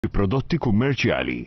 bi prodotti kummerċjali.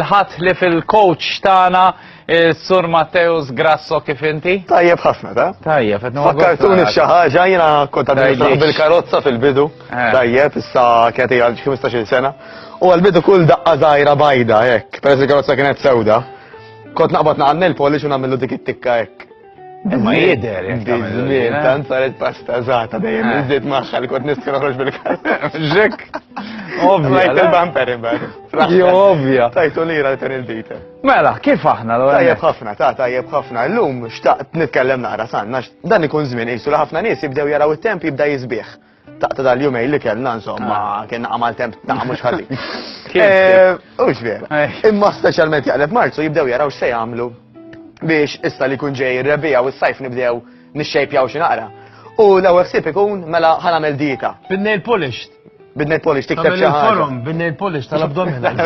l-ħadd li fil-coach tagħna Eh, Sur Matteus Grasso kif inti? Tajjeb ħafna, ta? Tajjeb, qed noqgħod. Fakkartuni f'xi ħaġa jiena kont għadni bil-karozza fil-bidu. Eh. Tajjeb, issa kienet hija 15-il sena. U għal-bidu kull daqqa żgħira bajda hekk, peress il-karozza kienet sewda. Kont naqbad naqgħad nil-polish u nagħmlu dik it-tikka hekk. Imma jider, jider. Tant saret pasta zata dejjem iżdiet eh. maħħa li kont nistka noħroġ bil-karta. Ġek. Ovvja. Lajt il-bumper imbagħad. Jo ovvja. Tajtu lira li ten il-bita. Mela, kif aħna l Tajjeb ħafna, ta' tajjeb ħafna. Llum xtaqt nitkellem naqra sanna, dan ikun żmien qisu li ħafna nies jibdew jaraw it-temp jibda jisbieħ. Taqta dal-jumej li kellna insomma, ah. kena għamal temp ta' mux ħalli. Eh, u vera. Eh. Imma specialment jaqleb marzu jibdew jaraw x'se jagħmlu biex issa li kun ġej ir-rebija u s-sajf nibdew nixxejpjaw xi naqra. U l-ewwel ħsieb ikun mela ħanamel dieta. Bin-nail polished. Bin-nail polished tikteb xi ħaġa. Bin-nail polished tal-abdominal.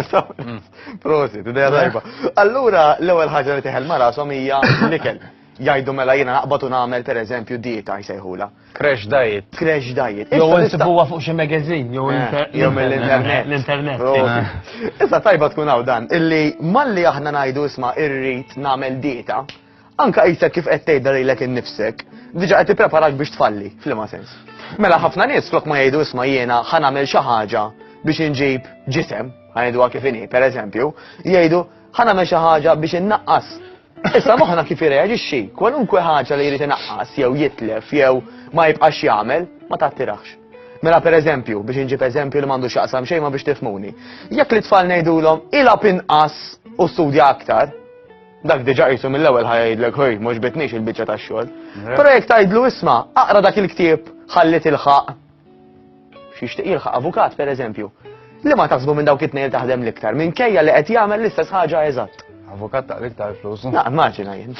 Prosit, idea tajba. Allura l-ewwel ħaġa li teħel ma rashom hija l-ikel. Jgħidu mela jiena naqbad u nagħmel pereżempju dieta jsejħula. Crash diet. Crash diet. Jew insibuha fuq xi magazine jew eh, mill-internet. L-internet. Issa tajba tkun hawn dan illi malli aħna ngħidu isma' irrid nagħmel dieta, anka qisek kif qed tgħidha lilek innifsek, diġà qed tippreparak biex tfalli, f'liema sens. Mela ħafna nies flok ma jgħidu isma' jiena ħa nagħmel xi ħaġa biex inġib ġisem, ħajdu kif inhi, pereżempju, jgħidu ħa nagħmel xi ħaġa biex innaqqas Issa moħħna kif irreaġixxi, kwalunkwe ħaġa li jrid inaqqas jew jitlef jew ma jibqax jagħmel ma tattirax. Mela pereżempju, biex inġib eżempju li m'għandux jaqsam xejn ma biex tifmuni. Jekk li tfal ngħidulhom ilgħab inqas u studja aktar, dak diġa qisu mill-ewwel ħajdlek ħoj mhux bitniex il-biċċa tax-xogħol. Però jekk tgħidlu isma' aqra dak il-ktieb ħalli tilħaq X'jixtieq jilħaq avukat pereżempju. Li ma taħsbu minn dawk it-tnejn taħdem l-iktar, minkejja li qed jagħmel l-istess ħaġa eżatt. Avukat ta' l-iktar flus. Na, immaġina jien.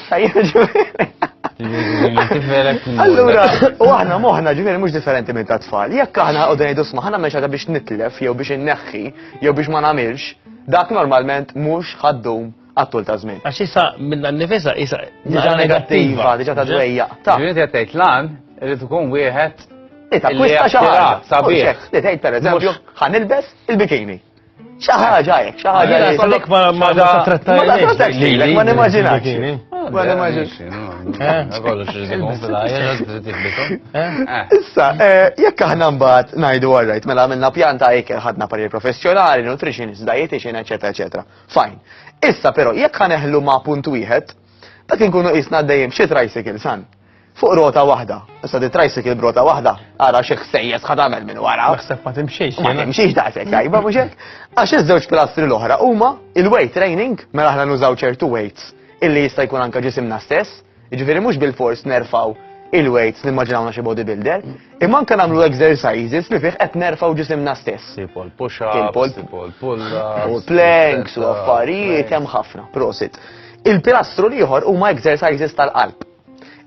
Allura, u aħna moħna ġifieri mhux differenti minn ta' tfal. Jekk aħna qogħdu ngħidu sma' ħana mhux biex nitlef jew biex inneħħi jew biex ma nagħmilx, dak normalment mhux ħaddum għattul ta' żmien. Għax issa minna nifisa issa diġa negattiva, diġa ta' dwejja. Ta' ġiet jattajt lan, irrid ikun wieħed. Ita, kwista xaħġa. Sabiħ. Li tgħid per eżempju, ħan ilbes il-bikini. ħaġa jek, ħaġa jek. Għalek ma ma ma trattajlek. Ma nimmaġinax. Ma nimmaġinax. Issa, jekk aħna mbagħad ngħidu għarrajt, mela għamilna pjanta jekk ħadna parir professjonali, nutrition, dietitian, eċetera, eċetera. Fajn. Issa però jekk ħaneħlu ma' punt wieħed, dak inkunu qisna għaddejjin b'xi tricycle san. Fuq rota waħda. Issa di tricycle b'rota waħda, ara xi ħsejjes ħad tagħmel minn wara. Naħseb ma timxiex. Ma timxiex daqshekk tajba mhux hekk. Għax iż-żewġ pilastri l-oħra huma il-weight training mela aħna nużaw ċertu weights illi jista' jkun anke ġisimna stess, Jiġifieri mhux bilfors nerfgħu il-weights nimmaġinawna xi bodybuilder, imma anke nagħmlu exercises li fih qed nerfgħu ġisimna stess. Tipo l-push-ups, tipo l-pull-ups. U planks u affarijiet hemm ħafna, prosit. Il-pilastru l-ieħor huma exercises tal-qalb.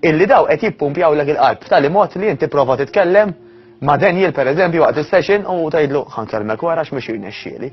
Illi daw qed jippumpjaw lek il-qalb f'tali mod li inti prova titkellem ma' Daniel pereżempju waqt is-session u tgħidlu ħankellmek wara x'mhux jirnexxieli.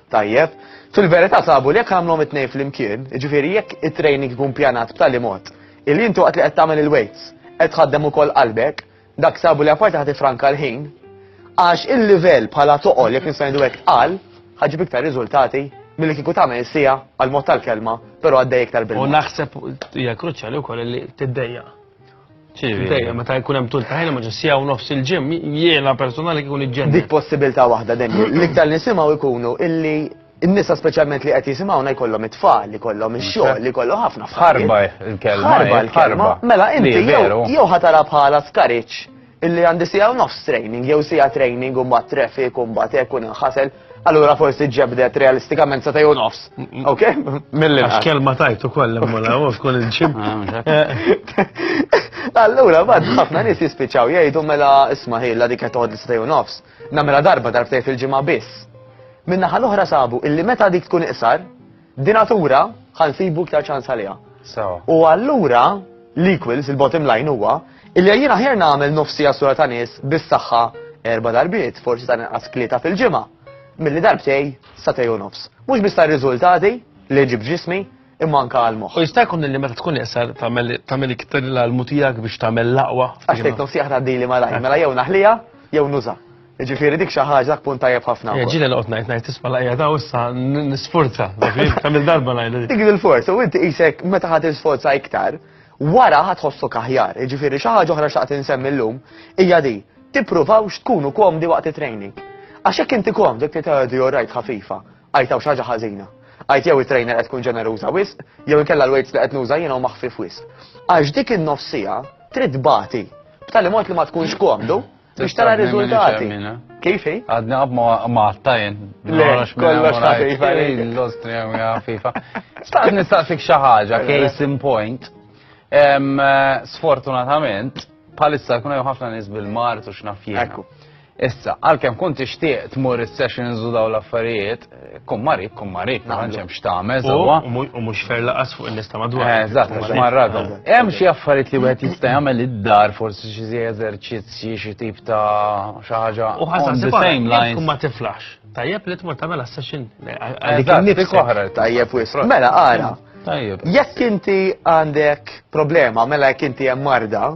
Tajjeb, fil-verità sabu li jekk għamlhom it-tnejn flimkien, jiġifieri jekk it-training ikun pjanat b'tali mod illi inti waqt li qed tagħmel il-weights qed tħaddem ukoll qalbek, dak sabu li apparti ħa tifranka l-ħin, għax il-livell bħala toqol jekk nista' ngħidu hekk tqal, ħaġib iktar riżultati milli kieku tagħmel is-sija għal mod tal-kelma, però għaddej iktar bil U naħseb hija kruċjali wkoll li tiddejja. Dejjem meta jkun hemm tul ta' ħin ma' ġessija u nofs il-ġim, jiena personali kikun iġġenni. Dik possibilità waħda dejjem. L-iktar li nisimgħu jkunu illi n-nisa speċjalment li qed jisimgħuna jkollhom it-tfal, li kollhom ix-xogħol, li kollhom ħafna ħarba l-kelma. Ħarba l-kelma. Mela inti jew ħatara bħala skariċ Illi għandi siegħa u nofs training, jew siegħa training u mbagħad traffic u mbagħad hekk u ninħasel, allura forsi ġebdet realistikament sa u nofs. Ok? Mill-inqas. Għax kelma tajt ukoll immola u tkun il-ġim. Allura, bad, ħafna nis jispiċaw jgħidu mela isma ħilla dik qed li stejju nofs. Namela darba darbtej fil-ġimgħa biss. Minna ħal oħra sabu illi meta dik tkun iqsar, Dinatura ħa nsibu iktar ċans għaliha. U allura l-equals, il-bottom line huwa, illi jien aħjar nagħmel nofsi għasura ta' nies bis-saħħa erba' darbiet, forsi ta' inqas klieta fil-ġimgħa, milli darbtej sa tej u nofs. Mhux biss tar-riżultati li ġib ġismi, imma anka għal moħħ. U jista' jkun li meta tkun iqsar tagħmel iktar l-almu tiegħek biex tagħmel laqwa. Għax tgħid nofsi aħna dili malaj, mela jew naħlija jew nuża. Ġifieri dik xi ħaġa dak punt tajjeb ħafna. Eh, Ġieli noqgħod ngħid ngħid tisma' laqja daw issa nisforza. Kamil darba ngħid. Dik il-forza u inti qisek meta ħadd isforza iktar, wara ħadd ħossok aħjar. Ġifieri xi ħaġa oħra xtaqt insemmi llum hija di tippruvawx tkunu komdi waqt it-training. Għax hekk inti komdi kif tgħidu orajt ħafifa, għajtaw xi ħaġa ħażina. Għajt jew it-trainer qed tkun ġeneruża wisq, jew inkella l-weights li qed nuża jiena maħfif wisq. Għax dik in-nofsija trid bati b'tali mod li ma tkunx komdu Biex tara riżultati. Kif hi? Għadni għab ma għattajn. Le, kollox ta' FIFA. L-Austria mija FIFA. Staqt nistaqsik xi ħaġa, case in point. Eh, sfortunatament, palissa kuna ħafna nies bil-mart u x'nafjien. Issa, għalkemm kont tixtieq tmur is-sessions u daw l-affarijiet, Kummari, kummari, ma tantx hemm x'tagħmel sewwa. U mhux fer laqas fuq in-nies ta' madwar. Eh, eżatt, għax marradhom. Hemm xi affarijiet li wieħed jista' jagħmel id-dar, forsi xi zi eżerċizzji, xi tip ta' xi ħaġa. U ħaża the same lines. Ma tiflax. Tajjeb li tmur tagħmel session. Eżatt, dik oħra. Tajjeb wis. Mela ara. Tajjeb. Jekk inti għandek problema, mela jekk inti hemm marda,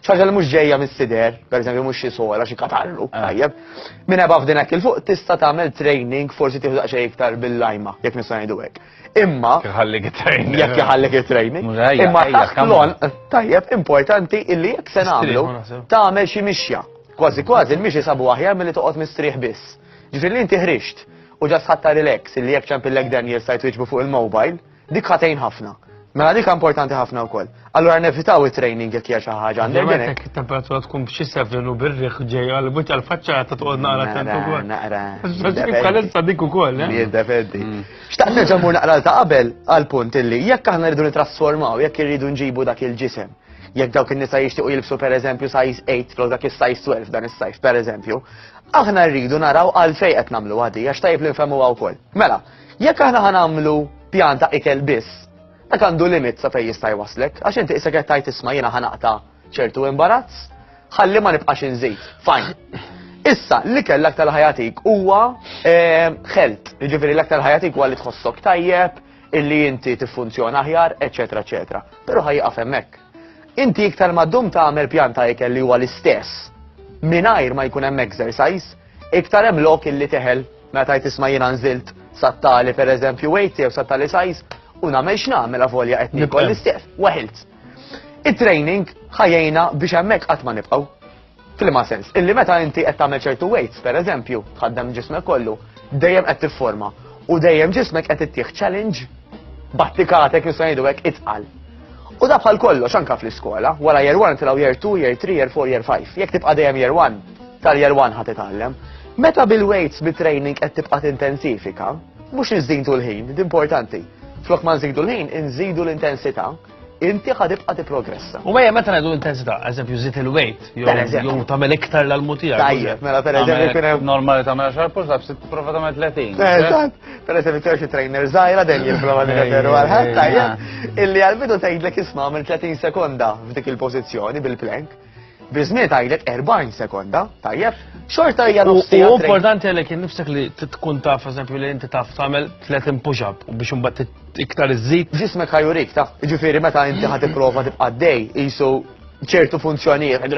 ċaġa li mhux ġejja mis-sider, pereżempju mhux xi sola, xi katallu, ah. tajjeb. Minn ebaf f'din hekk il-fuq tista' tagħmel training forsi tieħu daqsxejn iktar bil-lajma, jekk nista' ngħidu hekk. Imma jħallik training. Jekk jħallik training. Imma taħt lon tajjeb importanti illi jekk se nagħmlu tagħmel xi mixja. Kważi kważi il-mixi sabu aħjar milli toqgħod mistrieħ biss. Ġifieri inti ħrixt u ġas ħatta relax illi jekk ċempillek Daniel sajt fuq il-mobile Dik ħatejn ħafna. Mela dik importanti ħafna wkoll. Allura nevitaw it-training jekk hija xi ħaġa għandek. Jemmek temperatura tkun b'xi sevrin u birriħ ġej għal buċċa l-faċċa ta' toqgħod naqra tant ukoll. Naqra. Bħalissa dik ukoll. Eh? Jiddefendi. Mm. Xtaqt nerġa' mur naqra ta' qabel għal punt illi jekk aħna rridu nitrasformaw, jekk irridu nġibu dak il-ġisem jekk dawk in-nisa jixtiequ jilbsu pereżempju size 8 flok dak is-size 12 dan is-size pereżempju, aħna rridu naraw għalfejn qed nagħmlu għadi għax tajb li nfhmuha wkoll. Mela, Jekk aħna ħanamlu pjan ta' ikel biss, dak għandu limit sa fejn jista' jwaslek, għax inti isek qed tajt isma' jiena ħanaqta' ċertu imbarazz, ħalli ma nibqax inżid. Fajn. Issa, l-ikel l-aktar ħajatik huwa ħelt, eh, ġifiri l-aktar ħajatik huwa li tħossok tajjeb, illi inti tiffunzjona aħjar, eċetera, eċetera. Però ħajqaf hemmhekk. Inti iktar ma ddum tagħmel pjan ta' ikel li huwa l-istess mingħajr ma jkun hemm exercise, iktar hemm lok illi teħel meta tisma' jiena nżilt sattali pereżempju weight jew sattali size u nagħmel x'nagħmel avolja qed nikol l-istess, weħilt. It-training ħajjejna biex hemmhekk qatt ma nibqgħu. Fil-ma sens, illi meta inti qed tagħmel ċertu weights, per eżempju, tħaddem ġismek kollu, dejjem qed tifforma u dejjem ġismek qed ittieħ challenge battikatek nista' ngħidu hekk itqal. U da bħal kollox anka fl-iskola, wara year 1 tilgħu year 2, year 3, year 4, year 5. Jekk tibqa' dejjem year 1, tal-year 1 ħad itgħallem. Meta bil-weights bit-training qed tibqa' tintensifika, mhux iżdin tul ħin, importanti. Flok ma nżidu l-ħin, inżidu l-intensità inti ħad ibqa' tipprogressa. U mejja meta ngħidu intensità, eżempju żid il-weight jew tagħmel iktar l-almu tiegħek. Tajjeb, mela pereżempju kien hemm normali tagħmel xar push ups tipprova tagħmel 30. Eh, eżatt, pereżempju tiegħu xi trainer żgħira dejjem jipprova nirreferu għal ħadd tajjeb illi għall-bidu tgħidlek isma' minn 30 sekonda f'dik il-pożizzjoni bil-plank. Bizniet għajlet 40 sekonda, tajjeb, xorta hija nofsi. U importanti għalek nifsek li tkun taf, eżempju, li inti taf tagħmel 30 push-up u biex imbagħad iktar iżżid. Ġismek ħajurik taf, ġifieri meta inti ħad tipprova tibqa' dej qisu ċertu funzjonijiet.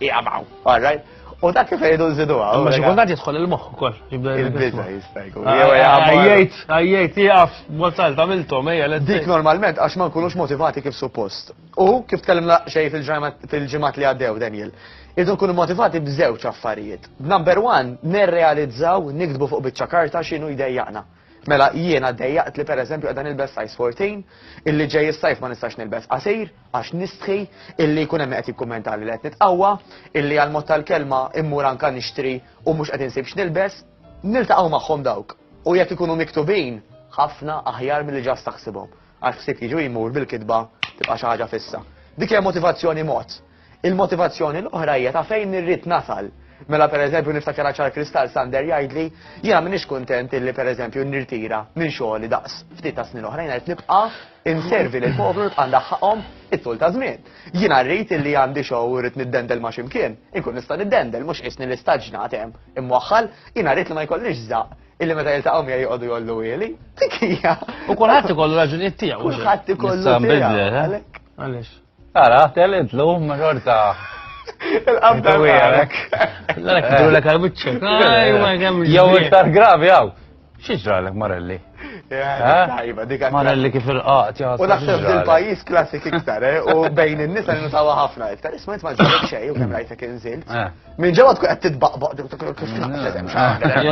Jaqbaw, alright. U dak kif jgħidu nżidu għaw. Ma xikultant jidħol il-moħħ ukoll. Il-biża jista' jkun. Għajjejt, għajjejt, jgħaf, mozal, tamiltom, ejja, l Dik normalment għax ma nkunux motivati kif suppost. U kif tkellimna xej fil-ġimgħat li għaddew Daniel, irdu nkunu motivati b'żewġ affarijiet. Number one, nirrealizzaw nikdbu fuq biċċa karta x'inhu jdejjaqna. Mela jiena dejjaqt li pereżempju qegħda nilbes size 14, illi ġej is-sajf ma nistax nilbes qasir għax nistħi, illi jkun hemm qed jikkummenta li qed nitqawwa, illi għal mod tal-kelma immur anka nixtri u mhux qed insib x'nilbes, niltaqgħu magħhom dawk. U jekk ikunu miktubin, ħafna aħjar milli ġast taħsibhom. Għax ħsieb jiġi u jmur bil-kitba tibqa' xi ħaġa fissa. Dik hija motivazzjoni mod. Il-motivazzjoni l-oħra hija ta' fejn irrid nasal. Mela pereżempju niftakar ċar kristall Sander jgħidli jiena m'iniex kuntent illi pereżempju nirtira minn xogħli daqs ftit ta' snin oħrajn qed nibqa' inservi lil poplu nibqa' ndaħħaqhom it-tul ta' żmien. Jiena rrid illi għandi xogħol u rrid niddendel ma' ximkien, inkun nista' niddendel mhux qisni li staġnat hemm imwaħħal, jiena rrid li ma jkollix żaq illi meta jiltaqgħu miegħi joqogħdu jollu wieli. Dik hija. U kulħadd ikollu raġunijiet tiegħu. Kulħadd ikollu. Sa bidle, eh? Għaliex. Ara, telid lum ma xorta. Il-qabda għalek. L-għalek kidu l-għalek għal-bicċek. Jow iktar gravi għaw. Xieġra l-għalek Marelli? Eh? Marelli kif il-qat, U naħseb il-pajis klassik iktar, eh? u bejn il-nisa li nutawa ħafna iktar. Isma jitma ġurek xej, u kem rajtek inżilt. Eh. Min ġewwa tkun qed titbaqbaq dik kif tnaqqset hemm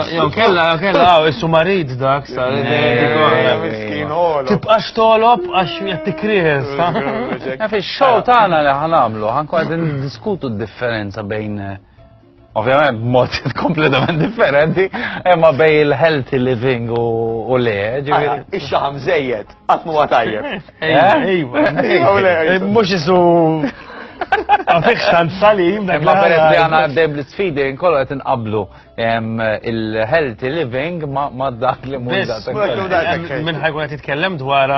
Jew kella jew kella hawn issu marid dak sa Tibqax tolob għax qed tikries. Fix-show tagħna li ħanamlu ħankun qed diskutu d-differenza bejn ovvjament b'mod kompletament differenti, imma bej il-healthy living u le, ġifieri. Ix-xaħam żejjed, qatt huwa tajjeb. Mux jisu. Għafiq xan salim. Ma peress li għana għaddej bl-sfidi, nkollu għet nqablu il-healthy living ma dak li munda. Minn ħajkun għet jitkellem dwar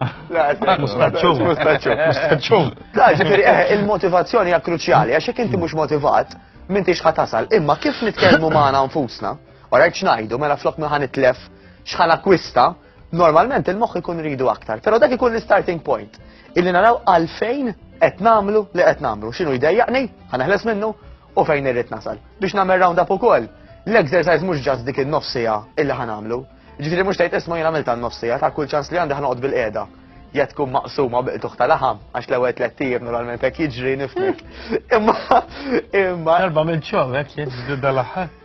Mustaċċum. Mustaċċum. Ġifiri, eh, il-motivazzjoni hija kruċjali, għax jekk inti mhux motivat, minn tix ħatasal. Imma kif nitkellmu magħna nfusna, u rajt xnajdu, mela flok minn ħan itlef xħan akwista, Normalment il-moħħ ikun ridu aktar, però dak ikun l-starting point. Illi naraw għalfejn qed nagħmlu li qed nagħmlu. X'inhu jdejjaqni, ħaneħles minnu u fejn irrid nasal. Biex nagħmel round up ukoll, l-exercise mhux ġast dik in-nofsija illi ħanamlu. Ġifieri mhux tgħid isma' jien għamil tan-nofsija ta' kull ċans li għandi ħanoqgħod bil-qiegħda. Ja tkun maqsuma biqtuħ ta' laħam, għax l-ewwel tliet tiegħek normalment hekk jiġri nifnek. Imma imma. Darba minn ċom hekk jiġri dal-aħħar.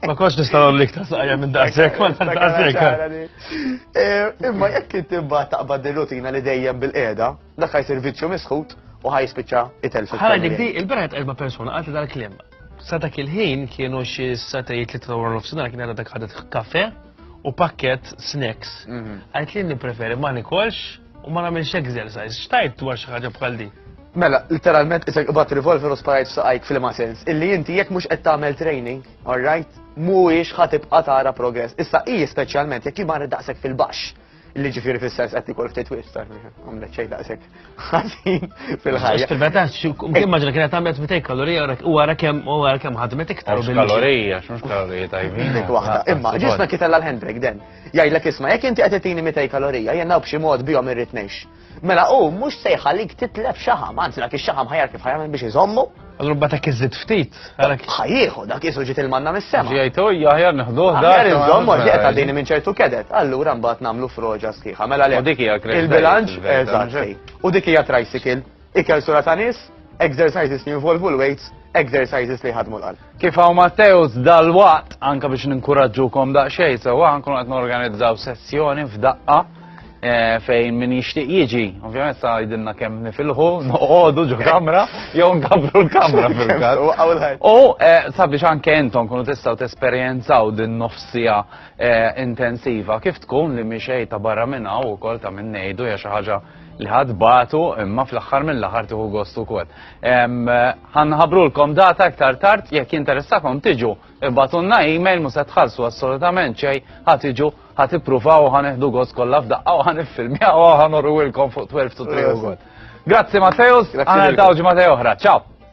Ma konx nista' nagħmlu iktar saqja minn daqshekk, ma daqshekk. Eh, imma jekk inti mbagħad taqbad ir-rutina li dejjem bil-qiegħda, dak ħajsir viċċju misħut u ħajspiċċa itelf. Ħala dik di, il-beret erba' persuna qalti dal-kliem. Sa dak il-ħin kienu xi satajiet li trawar nofsinhar kien għadha dak ħadet kafe u pakket snacks. Mhm. Għajt li nippreferi ma nikolx U ma nagħmilx exercise, xtajt dwar xi ħaġa bħal din? Mela, literalment isek qbad revolver u sparajt f'saqajk fil-ma sens. Illi inti jekk mhux qed tagħmel training, alright, mhuwiex ħa tibqa' tara progress. Issa hi speċjalment jekk jimar daqshekk fil-baxx. Illi ġifieri fis-sens qed ikol ftit wirt, għamlet xejn daqshekk ħażin fil-ħajja. Fil-meta immaġina kienet għamlet mitej kalorija u wara kemm u wara kemm ħadmet iktar. Kalorija, x'mhux kalorija tajbin. Imma ġisna kitella l-handbrake den. Jgħidlek isma' jekk inti qed itini 200 kalorija jien hawn b'xi mod bihom irrid ngħix. Mela hu mhux se jħallik titlef xaħam, anzi dak ix-xaħam ħajar kif ħajamel biex iżommu. Allura mbagħad hekk iżid ftit. Ħajjieħu dak isu ġiet il-manna mis-sema. Ġejt hu jaħjar neħduh dak. Aħjar iżommu għax qed għaddini minn ċertu kedet. Allura mbagħad nagħmlu froġa sħiħa. Mela le. U dik hija il-bilanċ eżatt. U dik hija tricycle. Ikel sura ta' nies, exercises li jinvolvu l-weights, exercises li jħadmu l-qalb. Kif hawn Matteus dal-waqt anke biex ninkuraġġukom daqsxejn sewwa nkunu qed norganizzaw sessjoni f'daqqa eh, fejn min jixtieq jiġi. Ovvjament sa jidilna kemm nifilħu, noqogħdu ġo kamra jew nkabru l-kamra fil-każ. U eh, sabiex anke intom kunu tistgħu tesperjenzaw din nofsija eh, intensiva kif tkun li mixej ta' barra minn hawn ukoll ta' minn ngħidu hija xi ħaġa li ħad batu imma fl-aħħar mill-aħħar tieħu gost ukoll. Ħanħabrulkom data iktar tard jekk jinteressakom tiġu ibatunna email mhux se tħallsu assolutament xejn ħad tiġu ħad ippruvaw ħaneħdu gost kollha f'daqqa u ħaniffilmjaw u ħanorwilkom fuq 12 to 3 ukoll. Grazzi Mateus, għana l-tawġi Mateo oħra, ciao!